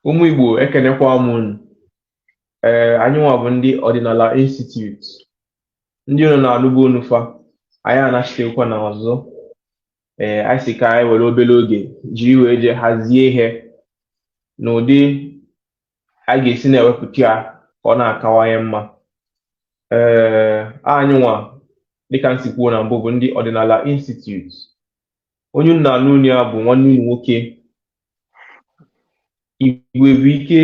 ụmụ Igbo ekenekwa m unu ee anyị nwa bụ ndị ọdịnala institute ndị unu na-anụbu onu fa anyị anachitekwana ọzọ ee anyị sị ka anyị were obere oge jiri wee jee hazie ihe n'ụdị a ga-esi na-ewepụta ya ka ọ na-akawanye mma ee anyị nwa dịka m si kwuo na mbụ bụ ndị ọdịnala institute onye unu na-anụ olu ya bụ nwanne unu nwoke Igwebuike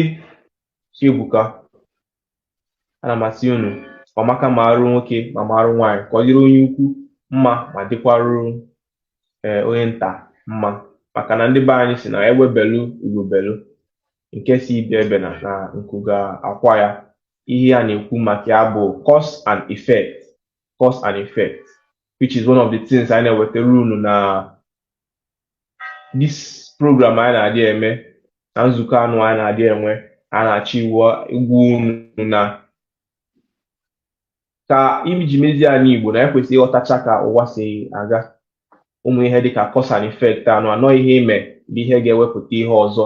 Chiebuka ana m asị unu ọ maka maarụ nwoke ma maarụ nwaanyị ka ọ dịrị onye ukwu mma ma dịkwarụ ee onye nta mma maka na ndị be anyị sị na egbe belu ugo belu nke sị ibe ebena na nku ga-akwa ya ihe a na-ekwu maka ya bụ cause and effect cause and effect which is one of the things anyị na-ewetara unu na this program anyị na-adị eme na nzukọ anụ anyị na-adị enwe a na-achọ ịgwa unu na ka e ji mezie ana Igbo na e kwesịrị ịghọtacha ka ụwa si aga ụmụ ihe dịka cause and effect anụ na ọ ihe i me bụ ihe ga-ewepụta ihe ọzọ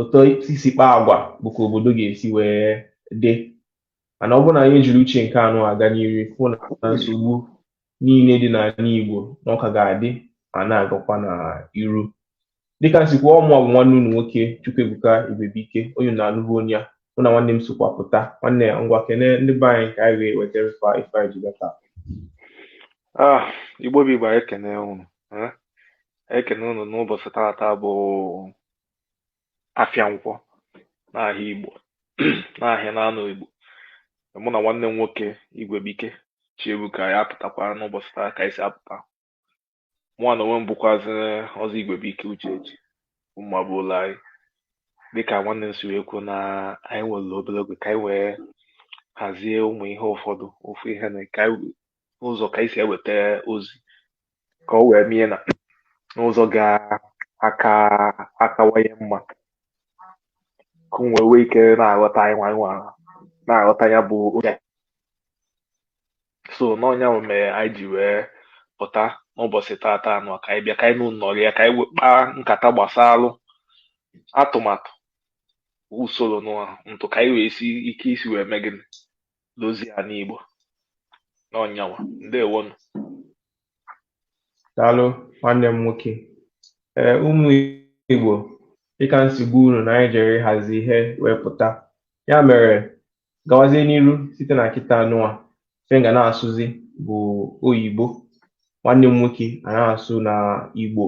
otu i si kpaa agwa bụ ka obodo ga-esi wee dị mana ọ bụrụ na anyị ejiri uche nke anụ aga n'iru fụ na nsogbu niile dị n'ala Igbo na ọ ka ga-adị ma na-agakwa na iru dịka m sịkwa ọ mụ bụ nwanne unu nwoke Chukwuebuka Igwebuike onye na-anụbu onu ya mụ na nwanne m sokwa pụta nwanne ya ngwa kene ndị be anyị ka anyị wee wetara ife a- ife anyị ji bịa taa Ah, Igbo bụ Igbo anyị ekene unu eh? ekene unu n'ụbọchị tata bụ afịa nkwọ n'ahịa Igbo n'ahịa naanọ Igbo mụ na nwanne m nwoke Igwebuike Chiebuka ya apụtakwa n'ụbọchị taa ka anyị si apụta mụwa n'onwe m bụkwazị ọzọ Igwebuike Uchechi mma bụ ụlọ anyị dịka nwanne m si wee kwuo na anyị nwere obere oge ka anyị wee hazie ụmụ ihe ụfọdụ ofu ihe na ka anyị ụzọ ka anyị si eweta ozi ka e wee mee ya n'ụzọ ga-aka akawanye mma ka unu wee nwee ike na-aghọta anyị nwa nwa na-aghọta ya bụ oge so na ọ nya mere anyị ji wee pụta n'ụbọchị tata anụ ka anyị bịa ka anyị nọrịa ka anyị kpaa nkata gbasalụ atụmatụ usoro na ntụ ka anyị wee si ike isi wee mee gịnị dozie ana igbo na ọ nya nwa ndewonụ daalụ nwanne m nwoke ee ụmụ igbo dịka m si gwa unu na anyị jere ịhazi ihe wee pụta ya mere gawazie n'iru site na kịta nụa ife anyị ga na-asụzi bụ oyibo nwanne m nwoke a na-asụ na igbo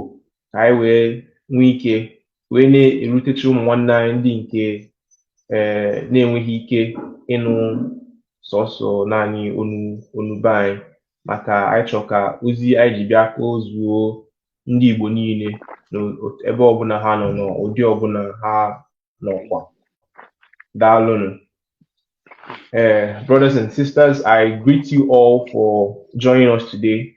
ka anyị wee nwee ike wee na-erutecha ụmụ nwanne anyị ndị nke ee na-enweghị ike ịnụ sọsọ naanị onu be anyị maka anyị chọrọ ka ozi anyị ji bịa ka o zuo ndị Igbo niile n'ebe ọbụla ha nọ n'ụdị ọbụla ha nọkwa daalụnụ Uh, brothers and sisters, I greet you all for joining us today.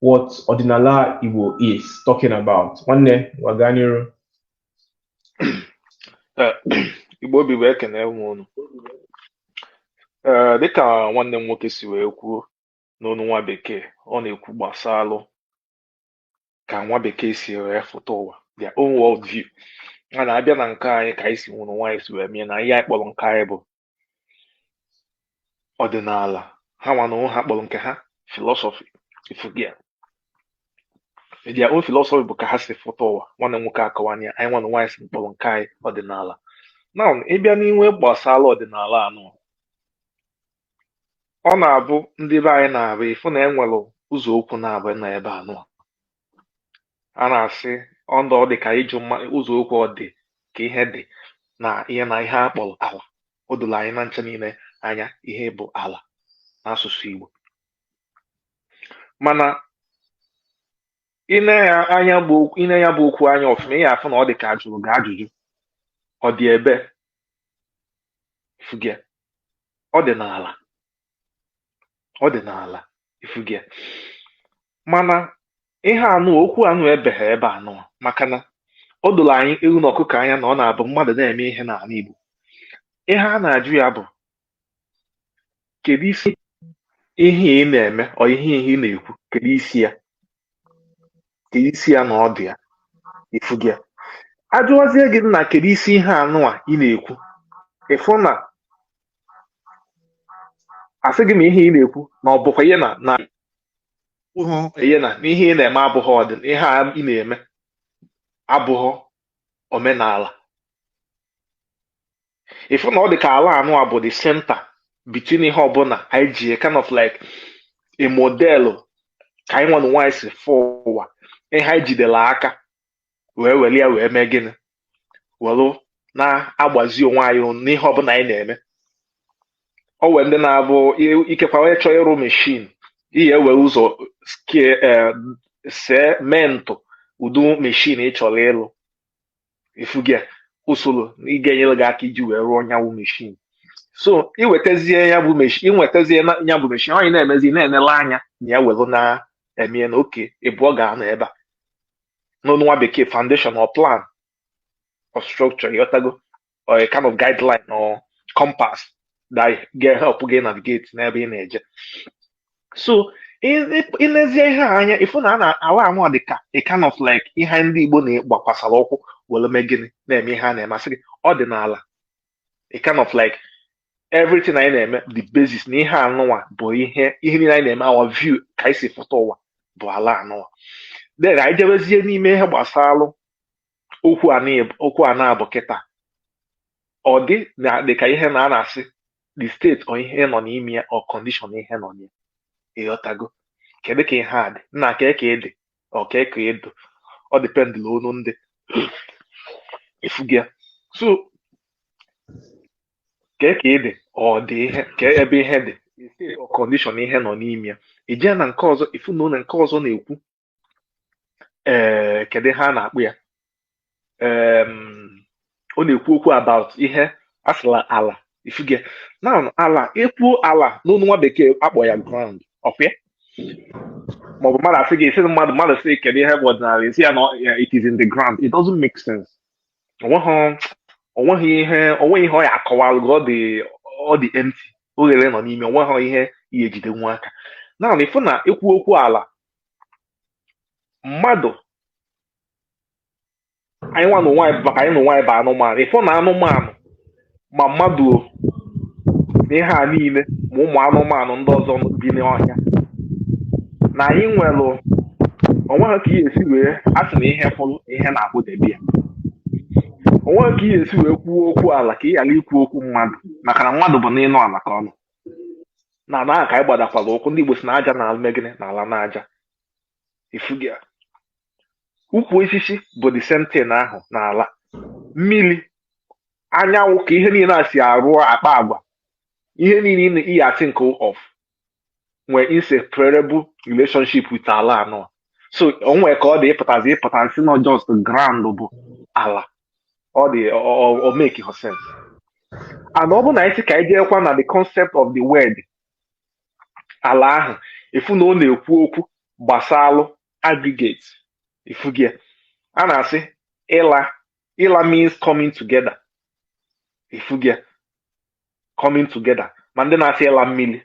what Odinala Igbo is talking about. Nwanne, Waganiru. Uh, Igbo obi wee ekene m unu ee uh, dịka nwanne m nwoke si wee kwuo n'onu nwa bekee ọ na-ekwu gbasalụ ka nwa bekee si wee fụta ụwa their own world view a na-abịa na nke anyị ka anyị si nwụrụ nwa anyị si wee mee na ihe anyị kpọrọ nke anyị bụ ọdịnala ha nwanụ na ha kpọrọ nke ha philosophy ifugia their philosophy bụ ka ha si fụta ụwa nwanne nwoke akọwana anyị nwanụ nwa anyị si mkpọrọ nke anyị ọdịnala na ịbịa n'ihe gbasara ọdịnala anụa ọ na-abụ ndị be anyị na-abụ ịfụ na enwere ụzọ okwu na-abụ na ebe anụ a na-asị ọndụ ọ dị ka ịjụ mma ụzọ okwu ọ dị ka ihe dị na ihe na ihe a kpọrọ ala o doro anyị na ncha niile anya ihe bụ ala n'asụsụ Igbo mana ine ya bụ okwu anya ọfụma ị ya-afụ na ọ dị ka ajụrụ gị ajụjụ ọ dị ebe ifugia ọ dị n'ala ọ dị n'ala ifugia mana ihe anụa okwu anụa ebeghị ebe anụa maka na o doro anyị ewu na ọkụkọ anya na ọ na-abụ mmadụ na-eme ihe n'ala Igbo ihe a na-ajụ ya bụ kedu isi ihe ị na-eme ọ ihe ihe ị na-ekwu kedu isi ya kedu isi ya na ọdụ ya ifugia ajụwazie gị na kedu isi ihe anụ a ị na-ekwu ịfụ na asị gị na ihe ị na-ekwu na ọ bụkwa ihe na na ihe na n'ihe ị na-eme abụghị ọdị ihe a ị na-eme abụghị omenala ịfụ na ọ dị ka ala anụ a bụ the center between ihe ọbụla anyị ji kind of like a model ka anyị nwanụ nwa anyị si fụ ụwa ihe anyị jidere aka wee were ya wee mee gịnị were na-agbazi onwe anyị n'ihe ọbụla anyị na-eme ọ wee ndị na-abụ ikekwa onye chọọ ịrụ meshin ị ya-ewere ụzọ mee ntụ ụdị meshin ị chọrọ ịlụ ifugia usoro ị ga-enyere gị aka iji wee rụọ nya wụ meshin so iwetazie ya bụ meshin onye na-emezi na-enele anya na ya were na-eme na okay ịbụọ ga-anọ ebe a n'olu nwa bekee foundation or plan or structure ịghọtago or a kind of guideline or compass that ga help gị navigate n'ebe ị na-eje so ilezie ihe a anya ịfụ na ala anwa dị ka a kind of like ihe ndị Igbo na-agbakwasara ụkwụ were mee gịnị na-eme ihe a na-eme a sị gị ọdịnala a kind of like everything anyị na-eme the basis na ihe anụnwa bụ ihe niile anyị na-eme our view ka anyị si fụta ụwa bụ ala anụnwa then anyị jebezie n'ime ihe gbasalụ okwu anụnwa bụ kịta ọ dị dị ka ihe na a na-asị the state or ihe nọ n'ime ya or condition ihe nọ n'ime ya ịghọtago kedu ka ihe a dị nna kee ka ị dị or kee ka ị dụ depending n'onu ndị ịfụgo ya so kee ka ị dị ọ dị ihe ka ebe ihe dị state or condition ihe nọ n'ime ya ị jee na nke ọzọ ịfụ na ụlọ nke ọzọ na-ekwu ee kedu ihe a na-akpọ ya em, ọ na-ekwu okwu about ihe a sị ala ala ịfụgo na ala ekwuo ala n'onu nwa bekee akpọ ya ground ọkwa ya maọbụ mmadụ asị gị ị sị mmadụ mmadụ sị kedu ihe bụ ọdịnala ị sị ya na ọ- ya, it is in the ground it doesn't make sense onweghị ihe onweghị ihe ọ ya akọwalụ gị ọ dị ọ dị empty oghere nọ n'ime onweghị ihe ị ya-ejidenwu aka naanị ịfụ na ekwu okwu ala mmadụ anyị nwa na onwe anyị maka anyị na onwe anyị bụ anụmanụ ịfụ na anụmanụ ma mmadụ o na ihe a niile ma ụmụ anụmanụ ndị ọzọ bi n'ọhịa na anyị nwere onweghị ka ị ya-esi wee a sị na ihe kwụrụ ihe na-akwụdebe ya onweghị ka ị ya-esi wee kwuo okwu ala ka ị ghara ikwu okwu mmadụ maka na mmadụ bụ n'enu ala ka ọ nọ n'ana ahụ ka anyị gbadakwara ụkwụ ndị Igbo sị na aja na-eme gịnị na-ala n'aja ịfụgo ya ukwu osisi bụ the same thing ahụ n'ala mmiri anyanwụ ka ihe niile a si arụ akpa agwa ihe niile ị ya think of nwere inseparable relationship with ala anụwa so o nwe ka ọ dị ịpụta ịpụta sị na just ground bụ ala ọ dịrọ make sense and ọ bụ na anyị sị ka anyị jeekwa na the concept of the word ala ahụ ịfụ na ọ na-ekwu okwu gbasalụ aggregate ịfụgo ya a na-asị ịla ịla means coming together ịfụgo ya coming together ma ndị na-asị ịla mmiri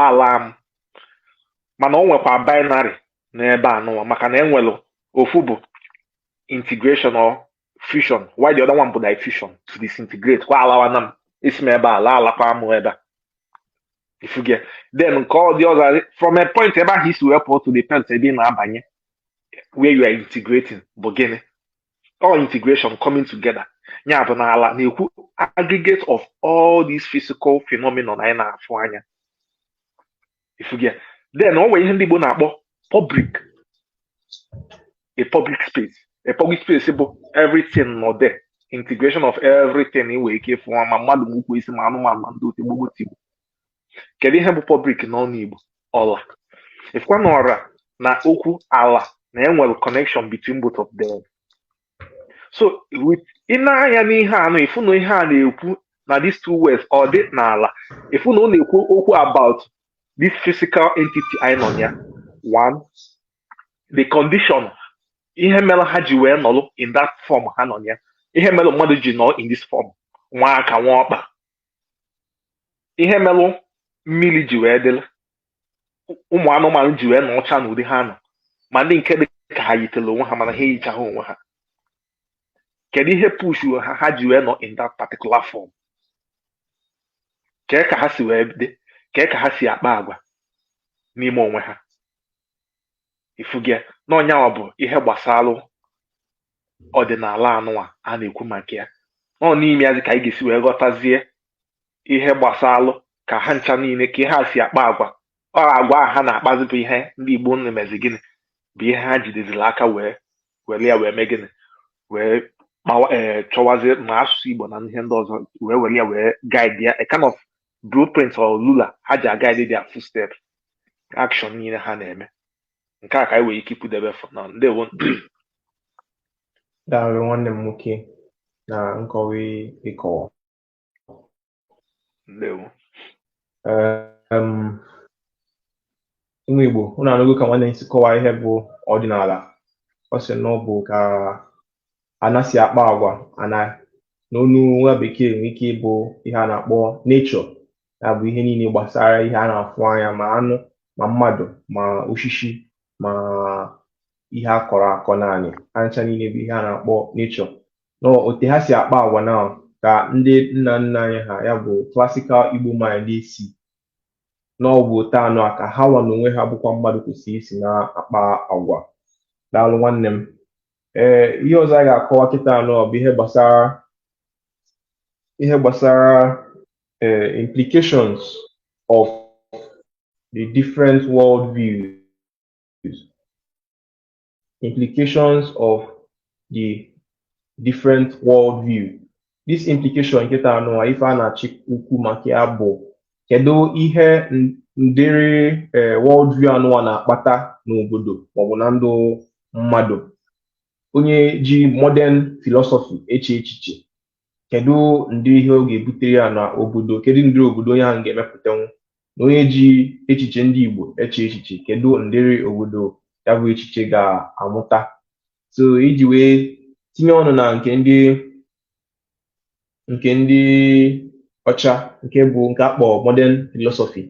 ala m mana o nwekwa binary n'ebe anụwa maka na enwere ofu bụ integration or fusion while the other one bụ diffusion to disintegrate kwa alawana m esi m ebe a laa alakwa m ebe a ị fụgo ya then nke ọ dị ọzọ from a point ebe ahụ ị si wee pụọ to the point ebe ị na-abanye where you are integrating bụ gịnị all integration coming together ya bụ na ala na-ekwu aggregate of all these physical phenomenon anyị na-afụ anya ị fụgo ya then o nwere ihe ndị Igbo na-akpọ public a public space a public space bụ everything nọ there integration of everything ị nwere ike ịfụ ma mmadụ ma ukwu osisi ma anụmanụ ma ndị otu gbogbo tigbo kedu ihe bụ public n'ọnụ Igbo ọla ị fụkwa na ọra na okwu ala na e nwere connection between both of them so ị nee anya n'ihe anụ ị fụ na ihe a na-ekwu na these two words ọdị na ala ị fụ na ọ na-ekwu okwu about this physical entity anyị nọ ya one the condition ihe mere ha ji wee nọrọ in that form ha nọ ya ihe mere mmadụ ji nọ in this form nwee aka nwee ọkpa ihe mere mmiri ji wee dịrị ụmụ anụmanụ ji wee nọọcha n'ụdị ha nọ ma ndị nke dị ka ha yitere onwe ha mana ha eyichaghị onwe ha kedu ihe push ha ha ji wee nọ in that particular form kee ka ha si wee dị kee ka ha si akpa agwa n'ime onwe ha ị fụgo ya na ọ ya nwa bụ ihe gbasalụ ọdịnala anụwa a na-ekwu maka ya ọ n'ime ya zi ka anyị ga-esi wee ghọtazie ihe gbasalụ ka ha ncha niile ka ihe ha si akpa agwa ọ agwa a ha na-akpazi bụ ihe ndị Igbo na-emezi gịnị bụ ihe ha jideziri aka wee were ya wee mee gịnị wee mawa ee eh, chọwazie ma asụsụ Igbo na ihe ndị ọzọ wee were ya wee guide ya a kind of blueprint or ruler ha ji a-guide their footsteps action niile ha na-eme nke a ka anyị nwere ike ikwudebe for now ndewo daalụ nwanne m nwoke na nkọwa ị kọwa ndewo ụmụ Igbo ụnụ anụgo ka nwanne si kọwaa ihe bụ ọdịnala ọ sị na ọ bụ ka ana si akpa agwa ana n'ọnụ nwa bekee nwere ike ịbụ ihe a na-akpọ nature ya bụ ihe niile gbasara ihe a na-afụ anya ma anụ ma mmadụ ma osisi ma ihe a kọrọ akọ n'anị ha ncha niile bụ ihe a na-akpọ nature na otu ha si akpa agwa na ka ndị nna nna anyị ha ya bụ classical Igbo mind na-asị na ọ bụ otu anụwa ka ha nwa na onwe ha bụkwa mmadụ kwesịrị isi na-akpa agwa daalụ nwanne m ee ihe ọzọ a ga-akọwa kịta anụwa bụ ihe gbasara ihe gbasara ee eh, implications of the different world views implications of the different worldview this implication kịta anụwa ife a na-achọ ikwu maka ya bụ kedu ihe ndịrị eh, worldview anụwa na-akpata n'obodo maọbụ na ndụ mmadụ onye ji modern philosophy eche echiche kedu ndị ihe ọ ga-ebutere ya na obodo kedu ndị obodo onye ahụ ga-emepụtanwu na onye ji echiche ndị Igbo eche echiche kedu ndịrị obodo ya bụ echiche ga-amụta so iji wee tinye ọnụ na nke ndị nke ndị ọcha nke bụ nke akpọ modern philosophy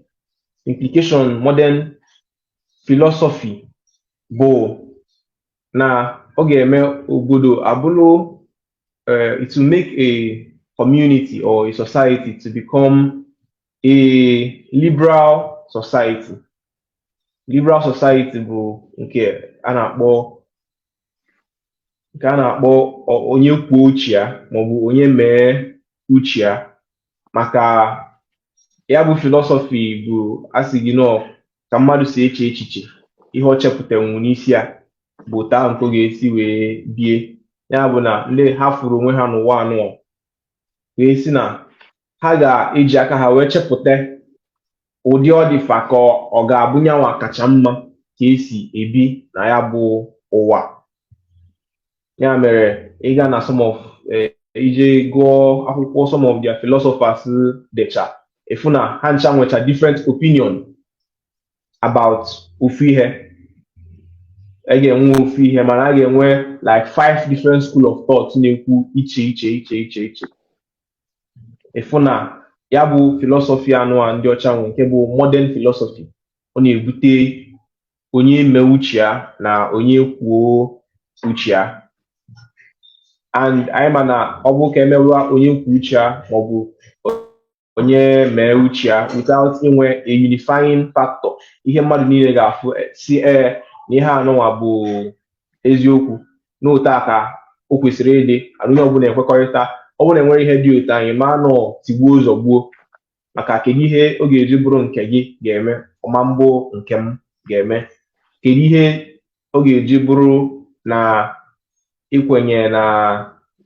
implication modern philosophy bụ na ọ ga-eme obodo abụrụ uh, it will make a community or a society to become a liberal society. Liberal society bụ nke a na-akpọ nke a na-akpọ onye kwuo uche ya maọbụ onye mee uche ya maka ya bụ philosophy bụ a sị gị na ọ ka mmadụ si eche echiche ihe ọ chepụtanwu n'isi ya bụ otu a nke ọ ga-esi wee bie ya bụ na ndị ha fụrụ onwe ha n'ụwa anụwa wee sị na ha ga-eji aka ha wee chepụta ụdị ọ dị fa ka ọ- ọ ga-abụ nyanwa kacha mma ka esi ebi na ya bụ ụwa ya mere ịga na some of eh, ị jee gụọ akwụkwọ some of their philosophers decha ịfụ na ha ncha nwecha different opinion about ofu ihe a ga-enwe ofu ihe mana a ga-enwe like five different school of thought na-ekwu iche iche iche iche iche ịfụ na ya bụ philosophy anụwa ndị ọcha nwe nke bụ modern philosophy ọ na-ebute onye mee uche ya na onye kwuo uche ya and anyị ma na ọ bụ ka emerụa onye kwuo uche ya maọbụ onye mee uche ya without inwe a unifying factor ihe mmadụ niile ga-afụ eh, sị ee na ihe anụnwa bụ eziokwu n'otu a ka o kwesịrị ịdị and onye ọbụla ekwekọrịta ọ bụrụ na enwerọ ihe dị otu a anyị ma na ọ tigbuo zọgbuo maka kedu ihe ọ ga-eji bụrụ nke gị ga-eme ọ ma bụ nke m ga-eme kedu ihe ọ ga-eji bụrụ na ikwenye na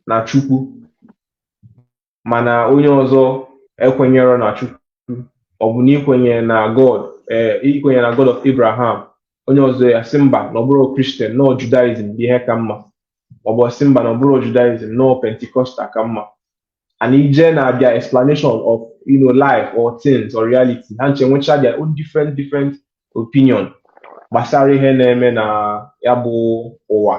na chukwu mana onye ọzọ ekwenyerọ na Chukwu ọ bụ na ikwenye na God ee eh, ikwenye na God of Abraham onye ọzọ asị mba na ọ bụrọ Christian na ọ Judaism bụ ihe ka mma ọ bụ asị mba na ọ bụrọ Judaism na ọ Pentecostal ka mma and i je na their explanation of you know life or things or reality ha ncha nwecha their own different different opinion gbasara ihe na-eme na ya bụ ụwa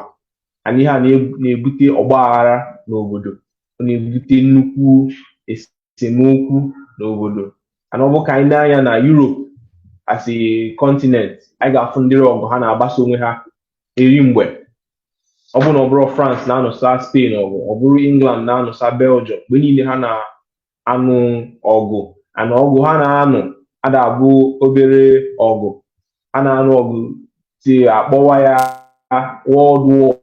and ihe a na-ebute ọgba aghara n'obodo ọ na-ebute nnukwu esemokwu n'obodo and ọ bụ ka anyị nee anya na Europe as a continent anyị ga-afụ ụdịrị ọgụ ha na-agbasa onwe ha eri mgbe ọ bụrụ na ọ bụrọ France na-anụsa Spain ọgụ ọ bụrụ England na-anụsa Belgium mgbe niile ha na anụ ọgụ and ọgụ ha na-anụ ada abụ obere ọgụ a na-anụ ọgụ till akpọwa ya World War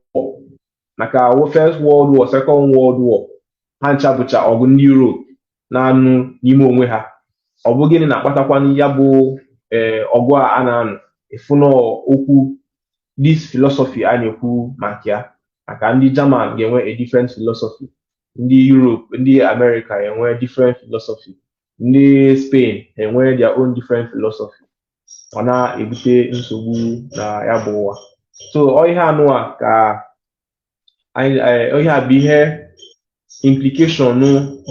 maka First World War Second World War ha ncha bụcha ọgụ ndị Europe na-anụ n'ime onwe ha ọ bụ gịnị na-akpatakwanụ ya bụ eh, ọgụ a a na-anụ ịfụ na okwu this philosophy a na-ekwu maka ya maka ndị German ga-enwe a different philosophy ndị Europe ndị America enwe different philosophy ndị Spain enwe their own different philosophy ọ na-ebute nsogbu na ya bụ ụwa so ihe anụwa ka ihe a bụ ihe implication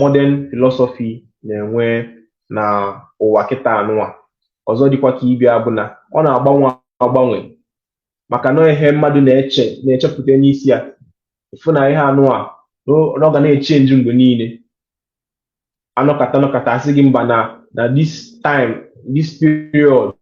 modern philosophy na-enwe na ụwa kịta anụwa ọzọ dịkwa ka ibe ya bụ na ọ na-agbanwe agbanwe maka na ihe mmadụ na-eche na-echepụta n'isi ya ịfụ na ihe anụwa na ọ ga na-echange mgbe niile anọkata anọkata asị gị mba na na this time this period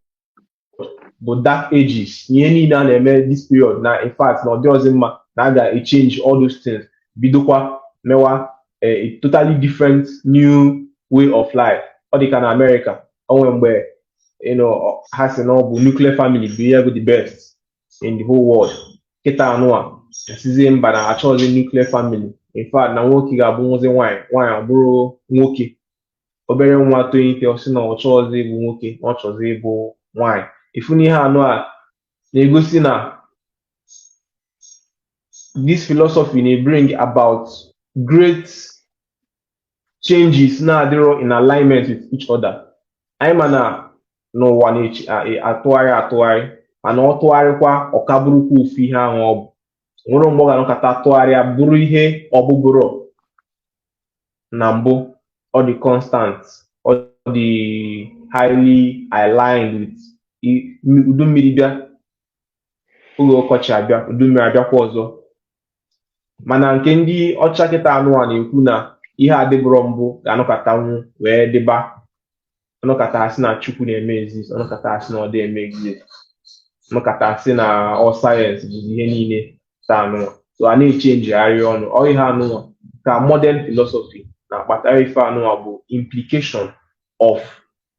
bụ dark ages ihe niile a na-eme this period na in fact na ọ dịrọzị mma na a ga-echange all those things bidokwa mewa eh, a totally different new way of life ọ dị ka na Amerịka o nwe mgbe you know ha sị na ọ bụ nuclear family bụ ihe bụ the best in the whole world kịta anụwa asịzie mba na achọrọzi nuclear family in fact na nwoke ga-abụnwuzi nwaanyị nwaanyị abụrụ nwoke obere nwa tonite ọ sị na ọ chọrọzi ịbụ nwoke na ọ chọzi ịbụ nwaanyị ịfụ na ihe anụwa na-egosi na this philosophy na-bring about great changes na-adịrọ in alignment with each other anyị ma na n'ụwa na-atụgharị atụgharị mana ọ tụgharịkwa ọ ka bụrụkwa ofu ihe ahụ ọ bụ o nwerọ mgbe ọ ga-anọkata tụgharịa bụrụ ihe ọ bụburọ na mbụ ọ dị constant ọ dị highly aligned with udu mmiri bịa oge ọkọchị abịa udu mmiri abịakwa ọzọ mana nke ndị ọcha kịta anụ a na-ekwu na ihe adịbụrọ mbụ ga-anọkatanwu wee dịba a nọkata a sị na chukwu na-eme exist a nọkata a sị na ọ dị eme exist a nọkata a sị na ọ sayensị bụ ihe niile taa anụ so a na-echenjigharị ọnụ ọ ihe anụnwa ka modern philosophy na-akpatara ife anụnwa bụ implication of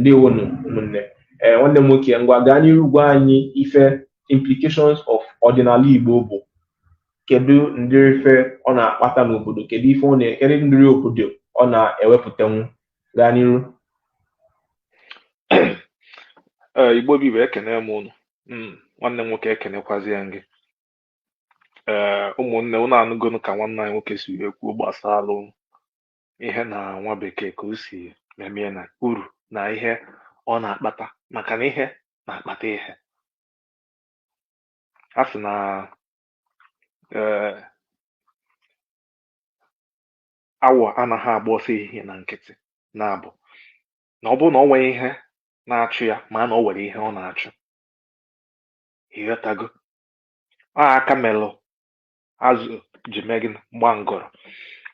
ndewonu ụmụnne ee nwanne m nwoke ngwa gaa n'iru gwa anyị ife implications of ọdịnala Igbo bụ kedu ndịrị ife ọ na-akpata n'obodo kedu ife kedu ndịrị obodo ọ na-ewepụtanwu gaa n'iru Igbo bụ Igbo ekene m unu hmm, nwanne m nwoke ekenekwazịa m gị ee ụmụnne unu anụgonu ka nwanne anyị nwoke si wee kwuo gbasara ihe na nwa bekee ka o si memie na uru na ihe ọ na-akpata maka na ihe na-akpata ihe a sị na ee awọ anaghị agba ọsọ ehihie na nkịtị na-abụ na ọ bụrụ na o nwere ihe na-achụ ya ma na o nwere ihe ọ na-achụ ị ghọtago ọ aka melụ azụ ji mee gịnị gba ngọrọ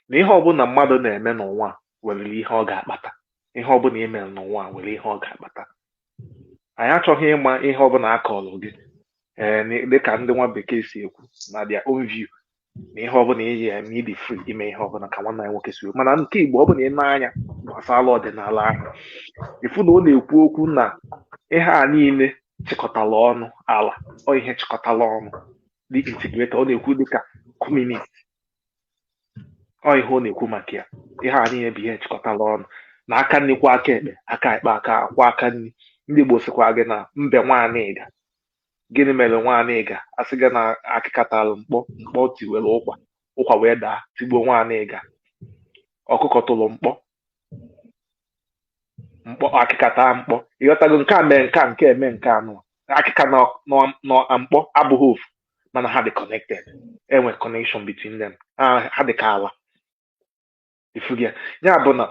na ihe ọbụla mmadụ na-eme n'ụwa nwere ihe ọ ga-akpata ihe ọbụla ị mere n'ụwa nwere ihe ọ ga-akpata anyị achọghị ịma ihe ọbụla a kọrọ gị ee eh, dịka ndị nwa bekee si ekwu na their own view na ihe ọbụla ị ya-eme ị dị free ime ihe ọbụla ka nwanne anyị nwoke si ekwu mana nke igbo ọ bụrụ na ị nee anya gbasara ọdịnala ahụ ị fụ na ọ na-ekwu okwu na ihe a niile chịkọtala ọnụ ala ọ ihe chịkọtala ọnụ dị integrated ọ na-ekwu dịka community ọ ihe ọ na-ekwu maka ya ihe a niile bụ ihe chịkọtara ọnụ na aka nri kwọọ aka ekpe aka ekpe akwọọ aka nri ndị Igbo sịkwa gị na mbe Nwanịga gịnị mere Nwanịga a sị gị na akịka tara mkpọ mkpọ tiwere ụkwa ụkwa wee daa tigbuo Nwanịga ọkụkọ tụrụ mkpọ mkpọ akịka taa mkpọ ị ghọtago nke a mee nke a nke a emee nke anụ akịka na na mkpọ abụghị ofu mana ha dị connected e nwere connection between them ha dị ka ala ị fụgo ya ya bụ na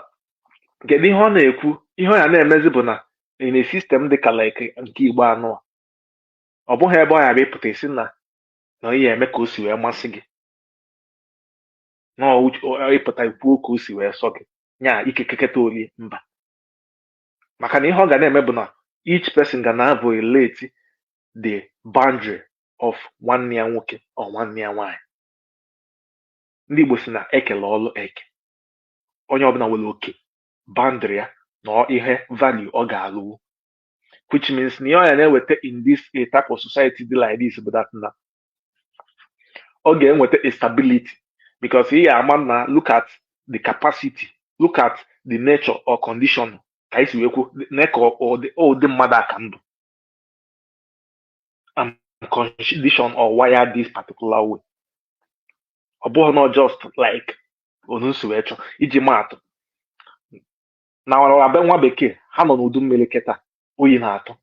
kedu ihe ọ na-ekwu ihe ọ ya na-emezi bụ na in a system dị ka like nke igbo anụ a ọ bụghị ebe ọ ya bụ ị pụta ị sị na na ị ya-eme ka o si wee masị gị na ị pụta kwuo ka o si wee sọ gị nya ike keketa o lie mba maka na ihe ọ ga na-eme bụ na each person ga na-violate the boundary of nwanne ya nwoke or nwanne ya nwaanyị ndị Igbo sị na e kelụ ọlụ eke onye ọbụla nwere oke boundary ya na ihe value ọ ga-alụnwu which means na ihe ọ ya na-eweta in this a type of society dị like this bụ that na ọ ga-enweta stability because ị ya-ama na look at the capacity look at the nature or condition ka i si wee kwuo na ka ụdị mmadụ aka ndụ and condition or wire this particular way ọ bụghị na just like onu m si wee chọọ iji maa atụ na ọrara be nwa bekee ha nọ n'udu mmiri kịta oyi na-atụ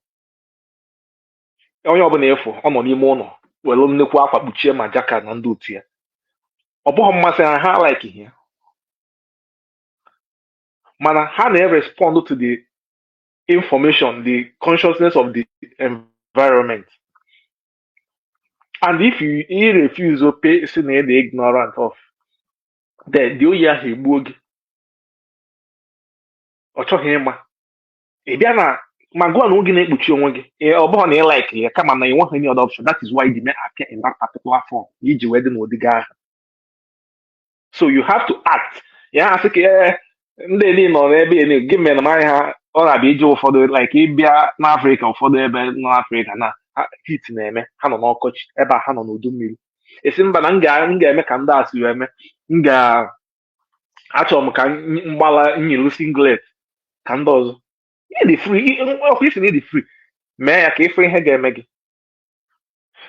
onye ọbụla ị fụ ọ nọ n'ime ụlọ were nnukwu akwa kpuchie ma jacket na ndị otu ya ọ bụghị mmasị ha ha like ya mana ha na-respond to the information the consciousness of the environment and if you, you refuse to pay sị na ị dị ignorant of then the oyi ahụ egbuo gị ọ chọghị ịma ị bịa na-ama akwa n'onwe gị na-ekpuchi onwe gị ee, ọ bụghị na ị like ya kama na ị nweghị any other option that is why you may appear in that particular form na i ji wee dị n'ụdị gị ahụ so you have to act ya asị ka ee, ndị niile nọ n'ebe elu gị mere m anya ha ọ na-abịa ije ụfọdụ like ị bịa n'afrịka ụfọdụ ebe nọ n'afrịka na ha- heat na-eme ha nọ n'ọkọchị ebe a ha nọ n'udu mmiri ị sị mba na m ga- m ga-eme ka ndị a si wee mee m ga achọrọ m ka m gbala nyilu singlet ka ndị ọzọ ị dị free ọkwa ị sị na ị dị free mee ya ka ị fụ ihe ga-eme gị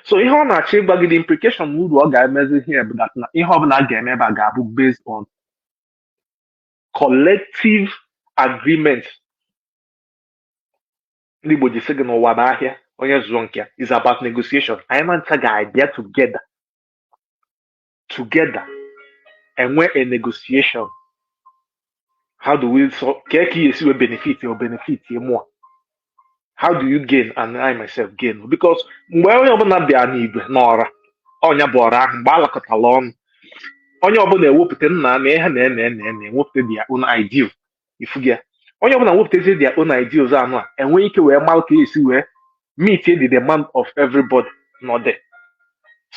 so ihe ọ na-achọ ịgwa gị the implication uru ọ ga-emezi ihe bụ na ihe ọ bụla a ga-eme ebe a ga-abụ based on collective agreement ndị Igbo ji sị gị na ụwa bụ ahịa onye zụọ nke ya is about negotiation anyị na ncha ga-abịa together together enwee a negotiation how do we so kee ka esi wee benefit ọ benefit mụa how do you gain and I myself gain because mgbe onye ọbụla bịa n'igwe n'ọra ọ nya bụ ọra ahụ mgbe a lakọtala ọnụ onye ọbụla ewepụta nna na ihe na em em em ewepụta their own ideal ị fụgo ya onye ọbụla wepụtazie their own ideals anụa enwee ike wee mara ka esi wee meet the demand of everybody nọ there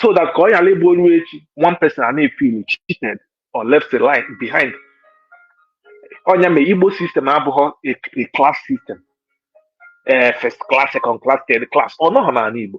so that ka ọ ghara ịbụ o ruo echi one person ana-efeel cheated or left the line behind ọ nya mee igbo system abụghọ a a class system eh, first class second class third class ọ nọghọ n'ala igbo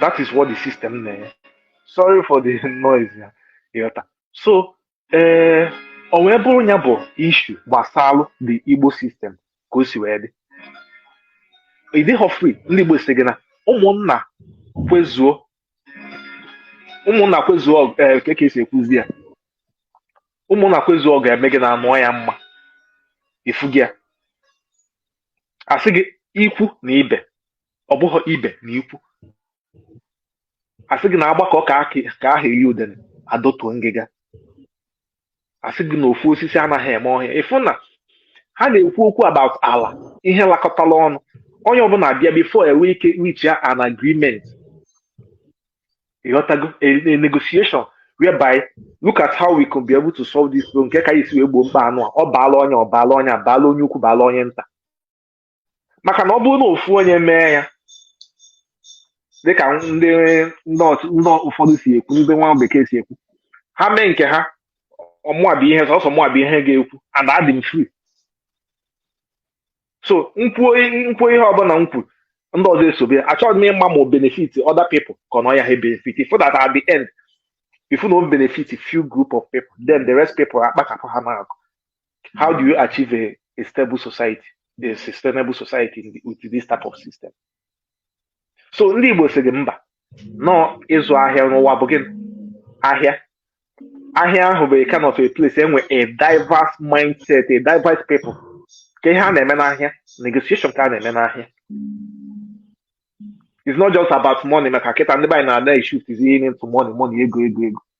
that is what the system na-enye sorry for the noise ya ịghọta so ee eh, o wee bụrụ ya bụ issue gbasalụ the igbo system ka o si wee dị ị dịghọ free ndị igbo sị gị na ụmụnna kwezuo ụmụnna kwezuo eh, ka esi ekwuzi ya ụmụnna kwezuo ọ ga-eme gị na anụọ ya mma ị fụgo ya asị gị ikwu na ibe ọ bụghị ibe na ikwu asị gị na agbakọ ka aha eri udene adọtuo ngịga asị gị na ofu osisi anaghị eme ọhịa ịfụ na ha na-ekwu okwu about ala ihe lakọtala ọnụ onye ọbụla abịa before enwe ike reach an agreement ịghọtago a, a negotiation whereby look at how we can be able to solve this problem nke ka esi wee gboo mkpa anụwa ọ baala onye a ọ baala onye a baala onye ukwu baala onye nta maka na ọ bụrụ na ofu onye mee ya dịka ndị ndị ọch- ndị ụfọdụ si ekwu ndị nwa bekee si ekwu ha mee nke ha ọ mụa bụ ihe sọsọ mụa bụ ihe ga-ekwu and adị m free so m kwuo m kwuo ihe ọbụla m kwuru ndị ọzọ esobe ya achọghị m ịma ma ọ benefit other people ka ọ na ọ ya ha benefit so that at the end ịfụ na ọ benefit few group of people then the rest people akpachapụ ha n'akụ how do you achieve a, a stable society a sustainable society in the, with this type of system so ndị igbo sị gị mba na ọ ịzụ ahịa na ụwa bụ gịnị ahịa ahịa ahụ bụ a kind of a place enwe a diverse mindset a diverse people kee ihe a na-eme n'ahịa negotiation ka a na-eme n'ahịa it's not just about money maka kịta ndị be anyị na-ada issues is ihe into money money ego ego ego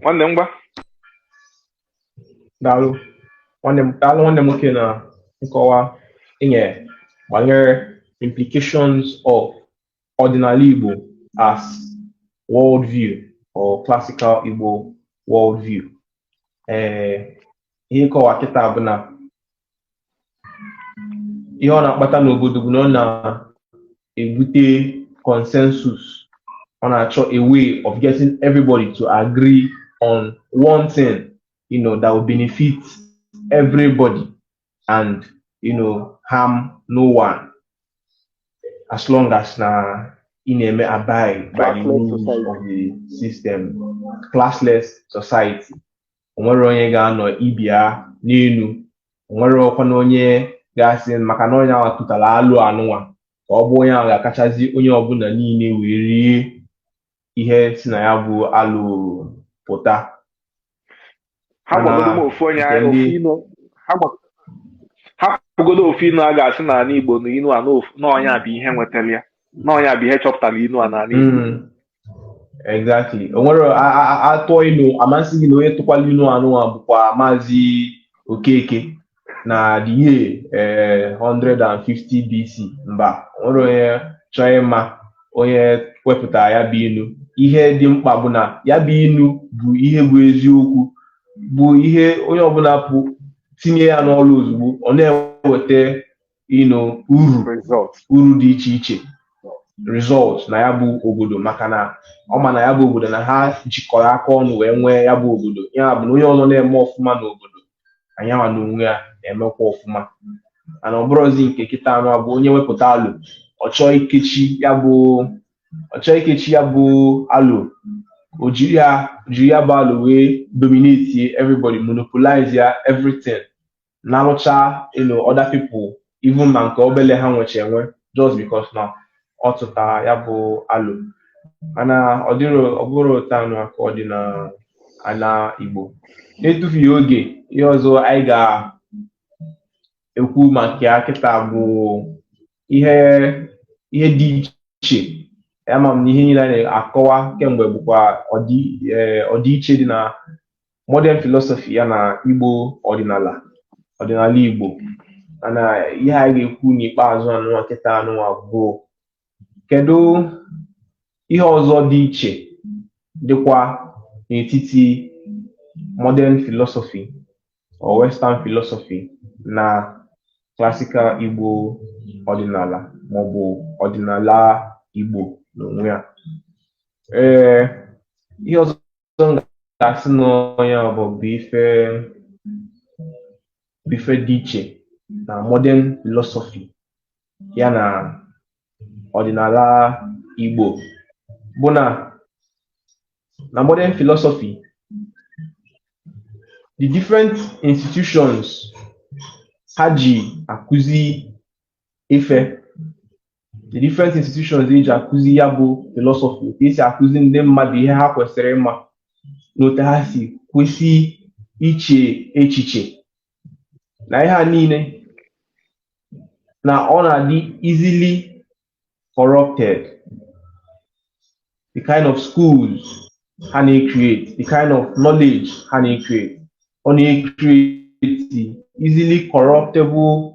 nwanne m ngwa daalụ nwanne m daalụ nwanne m nwoke na nkọwa inye banyere implications of ọdịnala Igbo as world view or classical Igbo world view ee eh, ihe ịkọwa kịta bụ na ihe ọ na-akpata n'obodo bụ na ọ na-ebute consensus ọ na-achọ a way of getting everybody to agree on one thing you know that will benefit everybody and you know harm no one as long as na ị na-eme abide by the rules of the system classless society onwerọ onye ga-anọ ibe ya n'elu onwerọkwanụ onye ga-asị maka na onye ahụ tụtara alo anụnwa ka ọ bụ onye ahụ ga-akachazi onye ọbụla niile wee rie ihe si na ya bụ alo pụta ha gbagodo m ofu onye ahụ ofu inu ha gba- ha gbagodo ofu inu a ga-asị n'ala igbo na inu a n'ofu- na onye a bụ ihe nwetara ya na onye a bụ ihe chọpụtara inu a n'ala igbo Mm, exactly o nwere a- a- a- atụọ inu ama asị gị na onye tụkwalụ inu anụnwa bụkwa maazị okeke na the year eh, 150 BC mba o nwerọ onye chọọ ịma onye wepụtara ya bụ inu ihe dị mkpa bụ na ya bụ inu bụ ihe bụ eziokwu bụ ihe onye ọbụla pụ itinye ya n'ọrụ ozugbo ọ na-eweta you know, uru uru dị iche iche result na ya bụ obodo maka na ọ ma na ya bụ obodo na ha jikọrọ aka ọnụ wee nwee ya bụ obodo ya bụ na onye ọzọ na-eme ọfụma n'obodo na ya nwa na onwe ya na-emekwa ọfụma mana ọ bụrụzi nke kịta anụa bụ onye wepụta alo ọ chọọ ikechi ya bụ ọ chọọ ikechi ya bụ alo o jiri ya o jiri ya bụ alo wee dominate everybody monopolize ya everything na-arụcha you know other people even ma nke obele ha nwecha enwe just because na ọ tụtara ya bụ alo mana ọ dịrọ ọ bụrọ otu anụa ka ọ dị na ala Igbo n'etufughị oge ihe ọzọ anyị ga-ekwu maka ya kịta bụ ihe ihe dị iche ama m na ihe niile a na-akọwa kemgbe bụkwa ọdị- eh, ọdịiche dị na modern philosophy ya na igbo ọdịnala ọdịnala igbo mana ihe a ga-ekwu n'ikpeazụ anụnwa kịta anụnwa bụ kedu ihe ọzọ dị iche dịkwa n'etiti modern philosophy or western philosophy na classical igbo ọdịnala maọbụ ọdịnala igbo n'onwe ya ee ihe ọzọ ọzọ m ga-asị na ọ ya bụ ife bụ ife dị iche na modern philosophy ya na ọdịnala Igbo bụ na na modern philosophy the different institutions ha ji akụzi ife the different institutions eji akụzi ya bụ philosophy ka esi akụzi ndị mmadụ ihe ha kwesịrị ịma na otu ha si kwesị iche echiche na ihe a niile na ọ na-adị easily corrupted the kind of schools ha na-ecreate the kind of knowledge ha na-ecreate ọ na-ecreate easily corruptible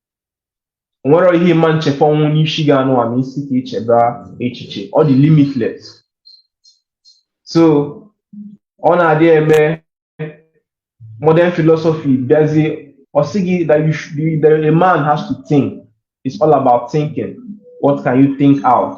nwere ihe ị ma echefụnwu n'isi gị anụa ma ị sị ka i cheba echiche ọ dị limitless so ọ na-adị eme modern philosophy bịazie ọ sị gị that a man has to think it's all about thinking what can you think out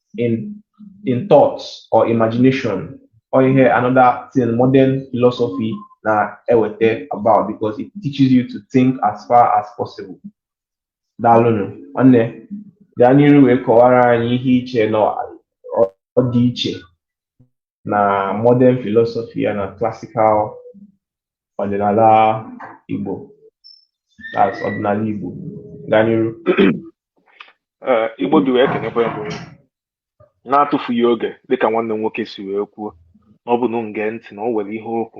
in in thoughts or imagination or ihe another thing modern philosophy na-eweta about because it teaches you to think as far as possible. Daalụnụ nwanne gaa n'iru wee kọwara anyị ihe i che na ọ dị iche na modern philosophy ya na classical ọdịnala Igbo as ọdịnala Igbo gaa n'iru Ee, Igbo dị wee kenekwa ya bụ na-atụfughị oge dịka nwanne m nwoke si wee kwuo na ọ bụ na m gee ntị na o nwere ihe okwu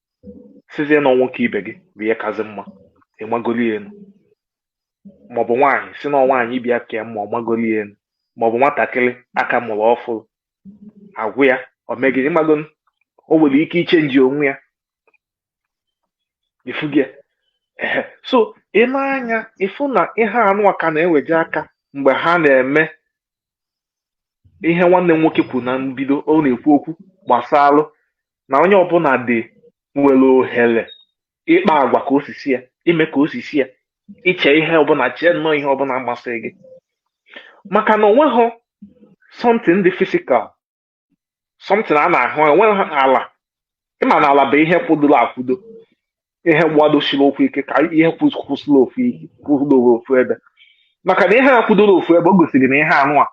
sịzie na nwoke ibe gị bụ ihe kazi mma ịmagoli elu maọbụ nwaanyị sị na nwaanyị ibe ya ka mma ịmagoli elu maọbụ nwatakịrị a ka mụrụ ọfụrụ agụ ya omegide ịmago o nwere ike ichenji onwe ya ịfụgo ya so i nee anya ịfụ na ihe anụ a ka na-eweje aka mgbe ha na-eme ihe nwanne m nwoke kwuru na mbido ọ na-ekwu okwu gbasalụ na onye ọbụla dị nwere ohere ịkpa agwa ka o si sọ ya ime ka o si sọ ya iche ihe ọbụla chee nnọọ ihe ọbụla masịrị gị maka na onweghị something dị physical something a na-ahụ enweghị ala ị ma na ala bụ ihe kwụdoro akwụdo ihe gbadosiri ụkwụ ike ka ihe kwụsịrị ofu ebe maka na ihe a kwụdoro ofu ebe o gosiri na ihe anụ a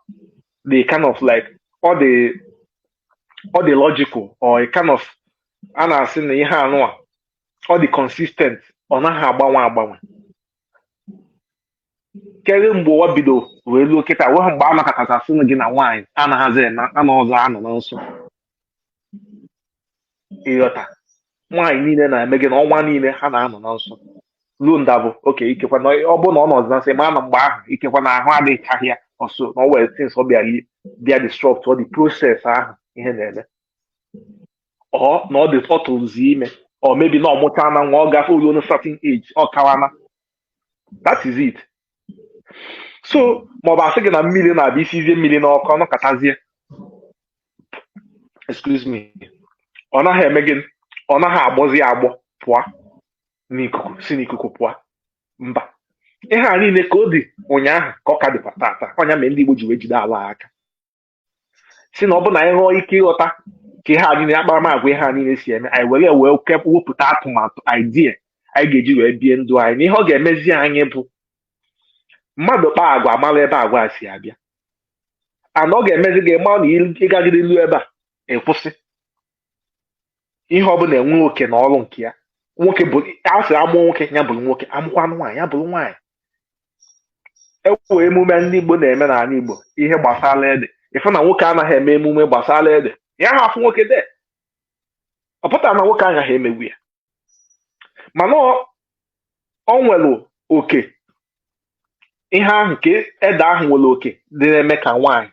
dị kind of like ọ dị ọ dị logical or a kind of a na-asị na ihe anụ a ọ dị consistent ọ naghị agbanwe agbanwe kere mgbe ụwa bido wee luo kịta onweghị mgbe a nọkata sị gị na nwaanyị anaghịzi anọ ọzọ anọ na nsọ ịghọta nwaanyị niile na-eme gịnị ọnwa niile ha na-anọ na nsọ ruo nda bụ okay ikekwa na ọ bụrụ na ọ nọzi na nsọ ma na mgbe ahụ ikekwa na ahụ adịchaghị ya or so na o nwere things ọ bịalị bịa disrupt ụdị process ahụ ihe na-eme or na ọ dị ọ tụlụzi ime or maybe na ọ mụchaana nwa ọ gafe o luona certain age ọ kawana that is it so maọbụ a sị gị na mmiri na-abụ i sizie mmiri n'ọkụ ọ nọkatazie excuse me ọ naghị eme gịnị ọ naghị agbọzi agbọ pụọ n'ikuku si n'ikuku pụọ mba ihe a niile ka ọ dị ụnyaahụ ka ọ ka dịkwa tata ọ nya mere ndị Igbo ji wee jide ala aka sị na ọ bụ na anyị nwee ike ịghọta ka ihe a niile akparamagwa ihe a niile si eme anyị were wee kep- wepụta atụmatụ idea anyị ga-eji wee bie ndụ anyị na ihe ọ ga-emezi anyị bụ mmadụ kpaa agwa a mara ebe agwa a si abịa and ọ ga-emezi gị mara na ị- ị gagide ilu ebe a ị kwụsị ihe ọbụla enwee oke na ọrụ nke ya nwoke bụ a sị a mụọ nwoke ya bụrụ nwoke a mụọkwanụ nwaanyị ya bụrụ nwaanyị e nwee emume ndị Igbo na-eme n'ala Igbo ihe gbasara ede ịfụ na nwoke anaghị eme emume gbasara ede yaha afụ nwoke there ọ pụtarọ na nwoke agaghị emenwu ya mana o nwere oke ihe ahụ nke ede ahụ nwere oke dị na-eme ka nwaanyị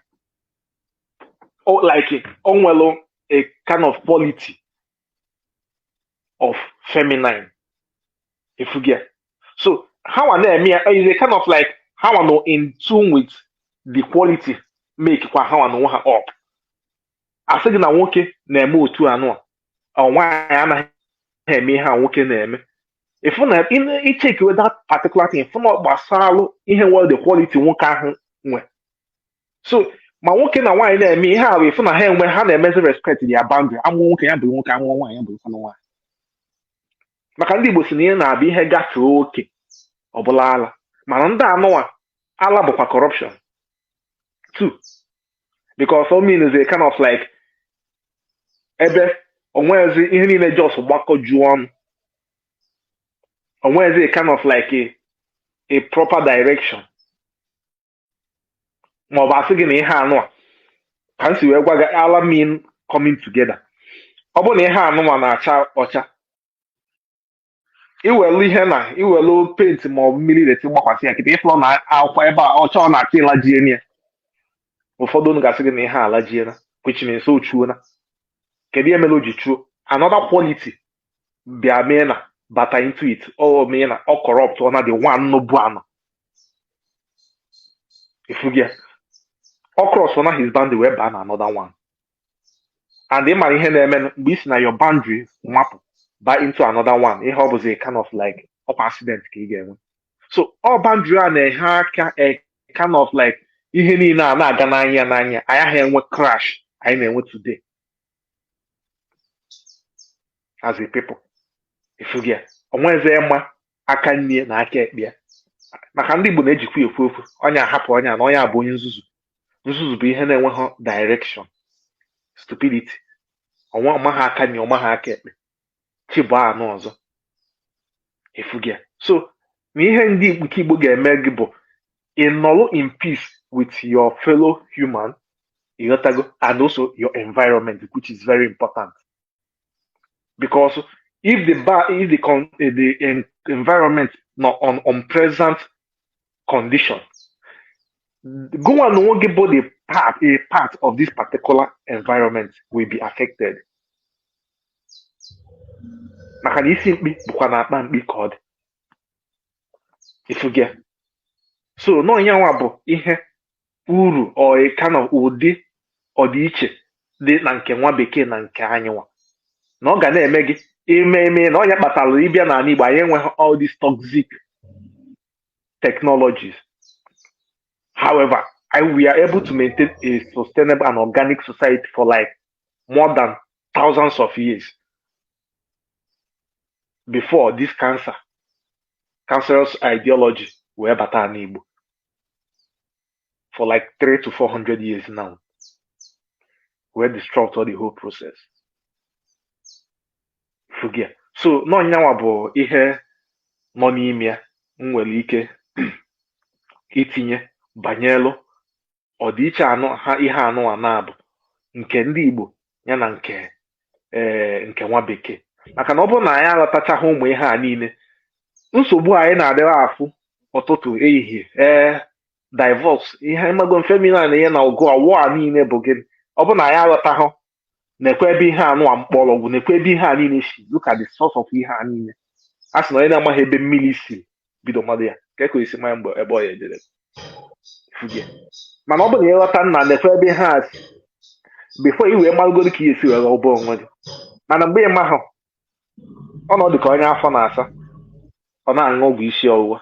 o- like o nwere a kind of quality of feminine ifugia so ha nwa na-eme ya is a kind of like ha nwa nọ in tune with the quality make kwa ha nwa na onwe ha up asị gị na nwoke na-eme otu anụ a ọ nwaanyị anaghị eme ihe a nwoke na-eme ịfụ na ị- ichekiwe that particular thing ịfụ na ọ gbasalụ ihe nwere the quality nwoke ahụ nwe so ma nwoke na nwaanyị na-eme ihe a bụ ịfụ na ha enwe ha na-emezi respect ya boundary amụọ nwoke ya bụrụ nwoke amụọ nwaanyị ya bụrụ nwanụ nwaanyị maka ndị Igbo si na ihe na-abụ ihe gafee oke ọ bụlụ ala mana ndị anụwa ala bụkwa corruption too because ala means a kind of like ebe onwezi ihe niile just gbakọjuo ọnụ onwezi a kind of like a, a proper direction ma ọ bụ asị gị na ihe anụ a ka m si wee gwa gị ala mean coming together ọ bụrụ na ihe anụ a na-acha ọcha iwelu ihe na iwelu paint ma ọ bụ mmiri dirty gbakwasị ya kịta ịfụlọ na akwa ebe a ọcha ọ na-achọ ịlajie ya ụfọdụ unu ga-asị gị na ihe alajiela which means o chuola kedu ihe mere o ji chuo another quality bịa mee na bata into it ọ mee na ọ corrupt ọ na the one nọbu anọ ifugia ọ cross na his boundary wee baa na another one and ị mara ihe na-eme mgbe i si na your boundary mapụ ba into another one ihe ọ bụzi kind of like ọkwa accident ka ị ga-enwe so ọ boundary a na-enye aka a kind of like ihe niile a na-aga n'anya n'anya anyị agaghị enwe crash anyị na-enwe today as a people ifugia onwezi ma aka nni na aka ekpe ya maka ndị Igbo na-ejikwa ekwu okwu onye a hapụ onye a na onye a bụ onye nzuzu nzuzu bụ ihe na-enweghị direction stupidity ọnwa ọmaghị aka nni ọmaghị aka ekpe chi bụ anụ ọzọ ifugia so na ihe ndị nke Igbo ga-eme gị bụ ịnọrọ in peace with your fellow human ịghọtago and also your environment which is very important because if the bar if the con, eh, the environment nọ na unpleasant condition gị nwa na onwe gị bụ the part a part of this particular environment will be affected maka na isi mkpi bụkwa na akpa mkpi ka ọ dị ifuge so na ọ nyanwa bụ ihe uru or kind of ụdị ọdịiche dị na nke nwa bekee na nke anyị nwa na ọ ga na-eme gị ime ime na ọ nya kpatara ị bịa n'ala Igbo anyị enweghị all these toxic technologies however I, we are able to maintain a sustainable and organic society for like more than thousands of years before this cancer cancerous ideology wee bata n'ala Igbo for like three to four hundred years now wee disrupt all the whole process fụgo ya so na ọ nyanwa bụ ihe nọ n'ime ya m nwere ike itinye banyelu ọdịiche anụ ha ihe anụ a na-abụ nke ndị Igbo ya na nke ee eh, nke nwa bekee maka na ọ bụrụ na anyị aghọtachaghị ụmụ ihe a niile nsogbu anyị na-adịrị afụ ụtụtụ ehihie ee eh, divorce ihe mmago feminine na ihe na ọgụ awụ a niile bụ gị ọ bụrụ na anyị aghọtaghị nekwe ebe ihe anụ a mkpọrọgwụ nekwe ebe ihe a niile si look at the source of ihe a niile a sị na onye na-amaghị ebe mmiri si bido mawa ya kee ka o yi si ma nya mgbe ebe ọ ya ejere fụgo ya mana ọ bụ na ị ghọta na nekwe ebe ihe a si before i wee malụgodu ka i yi esi were gwọọ onwe gị mana mgbe ị mahụ ọ na-adị ka onye afọ na-asa ọ na-aṅụ ọgwụ isi ọwụwa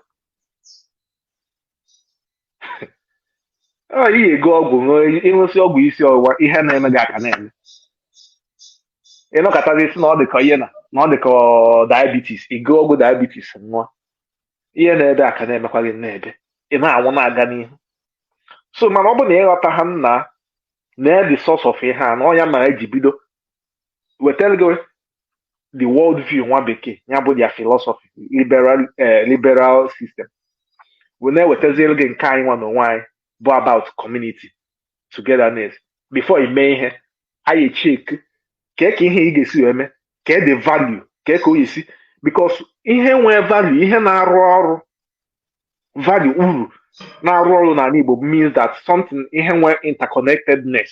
ọ i yi ego ọgwụ ṅụọ ị ṅụsịa ọgwụ isi ọwụwa ihe na-eme gị aka na-eme ị nọkatazie sị na ọ dịka ihe na na ọ dịka diabetes i go ọgwụ diabetes ṅụọ ihe n'ebe a ka na-emekwa gị n'ebe ị na-anwụ na-aga n'ihu so mana ọ bụ na ị ghọta ha nna na the source of ihe a na ọ nya mere e ji bido wetara gị the world view nwa bekee ya bụ their philosophy liberal eh, liberal system wee na-ewetazielu gị nke anyị nwa n'onwe anyị bụ about community togetherness before i mee ihe anyị check kee ka ihe ị ga-esi wee mee kee the value kee ka o yi si because ihe nwee value ihe na-arụ ọrụ value uru na-arụ ọrụ n'ala Igbo means that something ihe nwee interconnectedness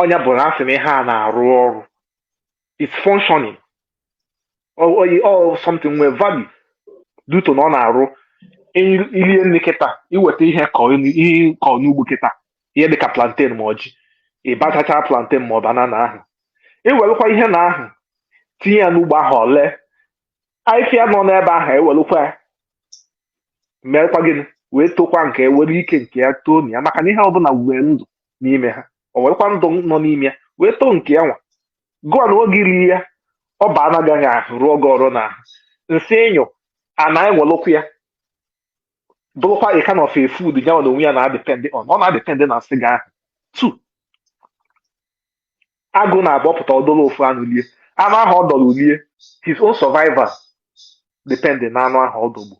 ọ nya bụ na a sị na ihe a na-arụ ọrụ it's functioning or, or, or something nwee value due to na ọ na-arụ i- i lie nri kịta i weta ihe kọ n- ihe kọ n'ugbo kịta ihe dịka plantain ma ọ ji i bachachaa plantain ma ọ banana ahụ i welukwa ihe na ahụ tinye ya n'ugbo ahụ o lee ahịfịa nọ n'ebe ahụ ewelukwa ya meekwa gịnị wee tokwa nke ya were ike nke ya too na ya maka na ihe ọbụla nwee ndụ n'ime ha o werekwa ndụ nọ n'ime ya wee too nke ya nwa gụwa na oge i ri ya ọ baa na ahụ gị ahụ rụọ gị ọrụ na ahụ nsị ị nyụ a na-ewelụkwa ya bụrụkwa a kind of a food ya na onwe ya na-adepend ọ na-adepend na nsị gị ahụ too agụ na-abụ ọ pụta ọ dọrọ ofu anụ lie anụ ahụ ọ dọrọ lie his own survival depend na anụ ahụ ọ dọgbu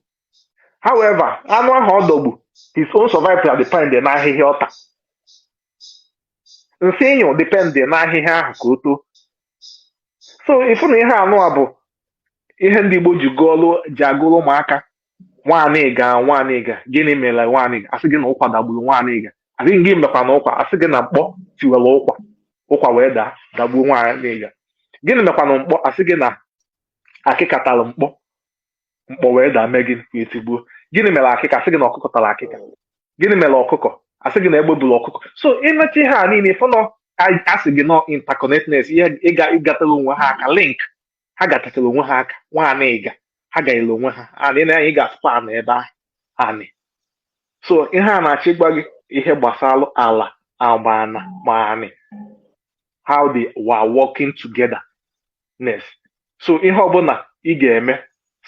however anụ ahụ ọ dọgbu his own survival depend na ahịhịa ọ ta nsị ị nyụ depend na ahịhịa ahụ ka o too so ị fụ na ihe anụ a bụ ihe ndị Igbo ji gụọlụ ji agụrụ ụmụaka Nwaniga Nwaniga gịnị mere Nwaniga a sị gị na ụkwa dagburu Nwaniga a sị gịnị mekwanụ ụkwa a sị gị na mkpọ tiwere ụkwa ụkwa wee daa dagbuo Nwaniga gịnị mekwanụ mkpọ a sị gị na akịka tara mkpọ mkpọ wee daa mee gịnị wee tigbuo gịnị mere akịka a sị gị na ọkụkọ tara akịka gịnị mere ọkụkọ a sị gị na egbe buru ọkụkọ so ị mecha ihe a niile ị fụ na a sị gị na ọ interconnectedness ihe ịga ịgatara onwe ha aka link ha gatachara onwe ha aka Nwaniga ha gaghịla onwe ha anị na anyị ga-asụkwa anị ebe ahụ anị so ihe a na-achọ ịgwa gị ihe gbasara ala agba ana ma anị how they were working togetherness so ihe ọbụla ị ga-eme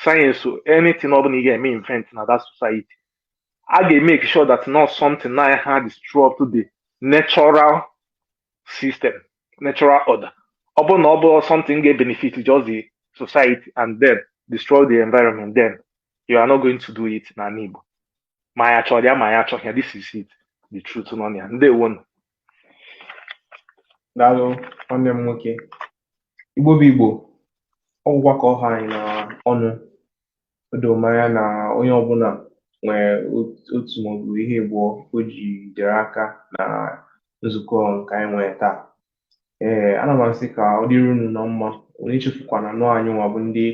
science anything ọbụla ị ga-eme invent na that society a ga-emake sure that not something na-adisrupt the natural system natural order ọ bụrụ na ọ bụ something ga-ebenefit just the society and then destroy the environment then you are not going to do it n'ala Igbo ma ya chọrọ ya ma ya achọghị ya this is it the truth nọ na ya ndewo nụ daalụ nwanne m nwoke Igbo bụ Igbo ọ gwụkwa ka ọ ha anyị na ọnụ o doro m anya na onye ọbụla nwere ot- otu maọbụ ihe abụọ o jidere aka na nzukọ nke anyị nwere taa ee ana m asị ka ọ dịrị unu na mma unu echefukwana na ọ anyị nwa bụ ndị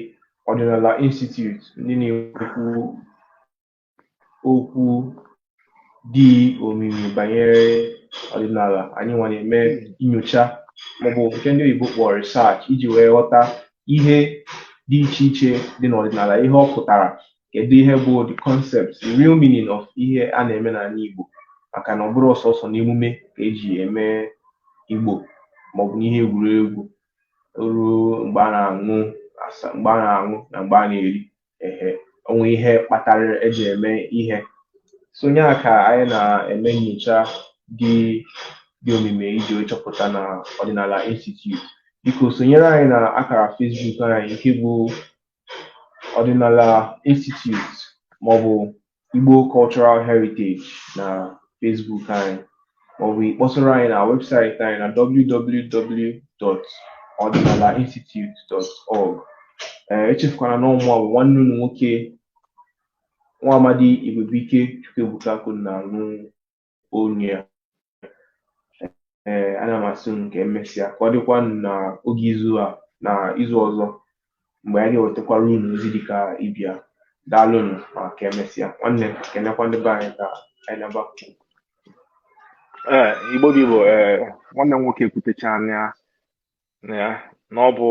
Ọdịnala Institute ndị na-ekwu okwu dị omimi banyere ọdịnala anyị nwa na-eme nyocha maọbụ nke ndị oyibo kpọrọ research iji wee ghọta ihe dị iche iche dị n'ọdịnala ihe ọ pụtara kedu ihe bụ the concept the real meaning of ihe a na-eme n'anị Igbo maka na ọ bụrọ sọsọ n'emume ka e ji eme Igbo maọbụ n'ihe egwuregwu ruo mgbe a na-aṅụ mgbe a na-aṅụ na mgbe a na-eri ehe o nwe ihe kpatara eji eme ihe so nya ka anyị na-eme nyocha dị dị omimi iji wee chọpụta na ọdịnala institute biko sonyere anyị na akara Facebook anyị nke bụ ọdịnala institute maọbụ Igbo Cultural Heritage na Facebook anyị maọbụ ịkpọtụrụ anyị na webụsaịtị anyị na www.ọdịnalainstitute.org ee eh, echefukwana na ọ mụwa bụ nwanne unu nwoke nwa amadi Igwebuike Chukwuebuka Akunna onye ya ee ana m asị unu ka emesịa ka ọ dịkwa na oge izu a na izu ọzọ mgbe anyị ga-ewetakwara unu ozi dịka ibe ya daalụnụ ma ka emesịa nwanne kenekwa ndị be anyị ka anyị naba ee igbo bụ igbo ee nwanne m nwoke ekwutechaana ya na ọ bụ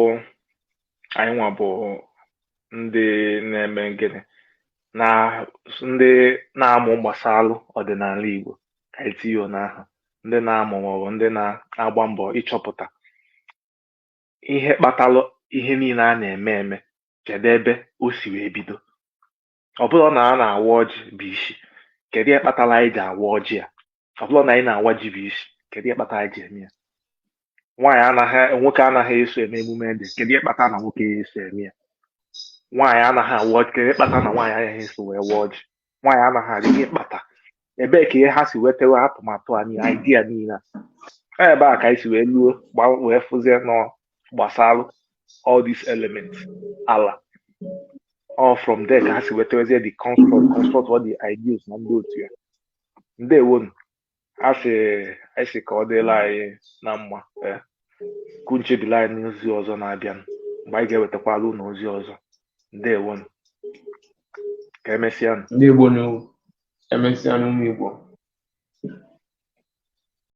anyị nwa bụ ndị na-eme gịnị na ndị na-amụ gbasalụ ọdịnala Igbo ka anyị tinye ya n'aha ndị na-amụ maọbụ ndị na-agba mbọ ịchọpụta ihe kpatalụ ihe niile a na-eme eme kedu ebe o si wee bido ọ bụrụ na a na-awa ọjị bụ isi kedu ihe kpatara anyị ji awa ọjị a ọ bụrụ na anyị na-awa ji bụ isi kedu ihe kpatara anyị ji eme ya nwaanyị anaghị nwoke anaghị eso eme emume ede kedu ihe kpatara na nwoke ya eso eme ya nwaanyị anaghị awa ọjị kedu ihe kpatara na nwaanyị anaghị eso wee wa ọjị nwaanyị anaghị arị ihe kpata ebee ka ihe ha si wetawa atụmatụ anyị idea niile a ebe a ka anyị si wee luo wee fụzie na gbasalụ all these elements ala all from there ka ha si wetawazie the construct construct all the ideas na ndị otu ya ndewonu a sị anyị sị ka ọ dịlị anyị na mma ka unu chebili anyị n'ozi ọzọ na-abịanụ mgbe anyị ga-ewetakwalụ unu ozi ọzọ ndewonu ka emesịa ndị Igbo na emesịanụ ụmụ Igbo